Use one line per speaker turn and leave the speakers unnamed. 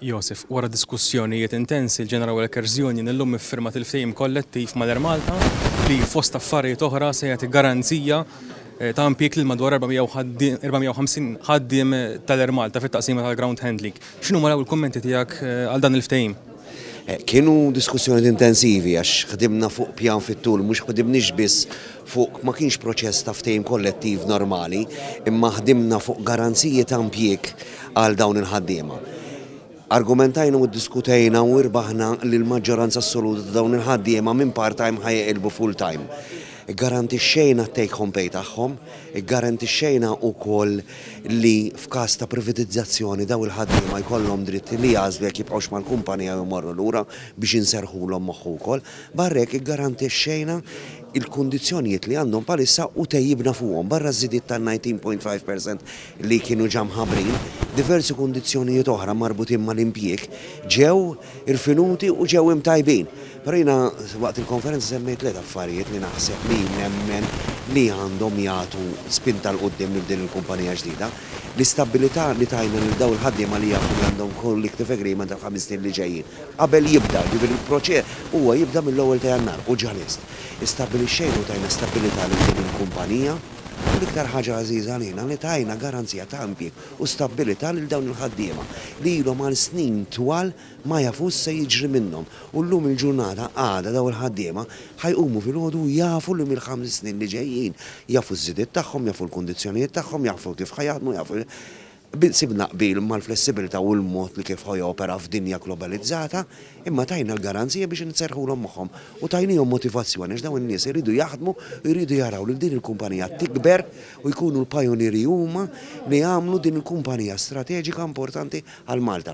Joseph, Wara diskussjonijiet intensi, l-General Workers' Union illum iffirmat il-ftehim kollettiv mal-Air Malta li, fost affarijiet oħra, se jagħti garanzija ta' impjieg lil madwar 450 ħaddiem tal-Air Malta fit-taqsima tal-ground handling. X'inhuma l-ewwel kummenti tiegħek għal dan il-ftehim? Kienu
diskussjonijiet intensivi għax ħdimna fuq pjan fit-tul, mhux ħdimniex biss fuq ma kienx proċess ta' ftehim kollettiv normali imma ħdimna fuq garanziji ta' impjieg għal dawn il-ħaddiema. Argumentajna u ddiskutejna u irbaħna li l-maġġoranza assoluta ta' dawn il-ħaddiema minn part-time ħa jeqilbu full-time. Iggarantixxejna t-take home pay tagħhom, iggarantixxejna wkoll li f'każ ta' privatizzazzjoni dawn il-ħaddiema jkollhom dritt li jagħżlu jekk jibqgħux mal-kumpanija jew imorru lura biex inserrħulhom moħħu wkoll. Barra hekk iggarantixxejna il-kundizzjonijiet li għandhom bħalissa u tejjibna fuqhom. Barra ż-żidiet ta' 19.5 per cent li kienu ġa mħabbrin, diversi kundizzjonijiet oħra marbutin mal-impjieg ġew irfinuti u ġew imtajbin. Però jiena waqt il-konferenza semmejt tliet affarijiet li naħseb li nemmen li għandhom jagħtu spinta 'l quddiem lil din il-kumpanija ġdida. L-istabbilità li tajna lil dawn il-ħaddiema li jafu li għandhom collective agreement għall-ħames snin li ġejjin. Qabel jibda, jiġifieri l-proċe, huwa jibda mill-ewwel ta' Jannar, u ġalist. Istabbilixxejna u tajna stabbilità lil din il-kumpanija, u l-iktar ħaġa għażiża għalina li tajna garanzija ta' impjieg u stabbilità lil dawn il-ħaddiema li ilhom għal snin twal ma jafux x'se jiġri minnhom u llum il-ġurnata għada dawn il-ħaddiema ħa jqumu filgħodu u jafu li mill-ħames snin li ġejjin jafu ż-żidiet tagħhom, jafu l-kundizzjonijiet tagħhom, jafu kif ħa jaħdmu, jafu Biss sibna qbil mal-flessibilità u l-mod li kif ħa jopera f'dinja globalizzata, imma tajna l-garanzija biex inserrħulhom moħħhom u tajniehom motivazzjoni għax dawn in-nies iridu jaħdmu u jridu jaraw lil din il-kumpanija tikber u jkunu l-pajunieri huma li jagħmlu din il-kumpanija strateġika importanti għal Malta.